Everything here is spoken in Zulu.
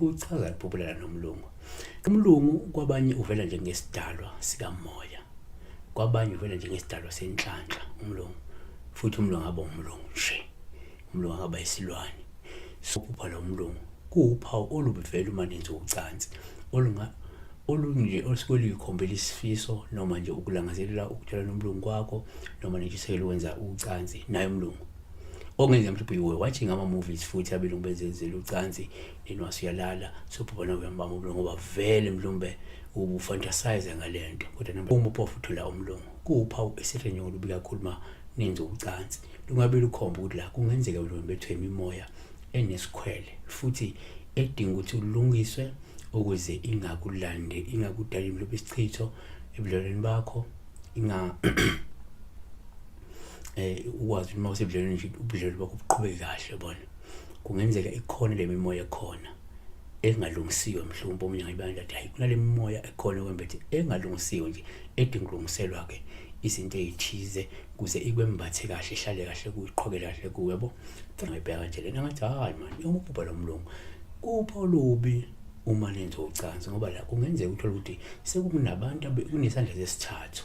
Uchaza liphuphulela nomlungu. Umlungu kwabanye uvela njengesidalwa sikamoya, kwabanye uvela njengesidalwa senhlanhla umlungu, futhi umlungu aba umlungu nje, umlungu akaba isilwane. Sophupha lo mlungu kuwuphawu olubivela uma nenza ucansi olunga olunje olusuke luyikhombela isifiso noma nje ukulangazelela ukuthola nomlungu kwakho noma nentshisekelo ukwenza ucansi naye umlungu. okungenza mhlawumbe you were watching ama movies futhi abelungu bezenzela ucansi then wasuyalala sobhubana uyambamba umlungu ngoba vele mhlawumbe ubufantasize ngale nto kodwa noma uma uphofu uthola umlungu kuwuphawu esirenyoko lubi kakhulu uma nenze ucansi lungabe lukhomba ukuthi la kungenzeka mhlawumbe bethwe imimoya enesikhwele futhi edinga ukuthi ulungiswe ukuze ingakulande ingakudali mhlawumbe isichitho ebudlelweni bakho inga eh ukwazi uma usebudlelweni nje ubudlelwano bakho buqhubeke kahle bona kungenzeka ikhona le mimoya ekhona engalungisiwe mhlawumbe omunye ngayibani lathi hayi kunale mimoya ekhona kwembethe engalungisiwe nje edinga ukulungiselwa ke izinto ezithize kuze ikwembathe kahle ihlale kahle kuyiqhoke kahle kuwe bo ngibheka kanje lena ngathi hayi mani umubhubha lo mlungu kupha olubi uma nenza ucansi ngoba la kungenzeka uthole ukuthi sekunabantu kunesandla sesithathu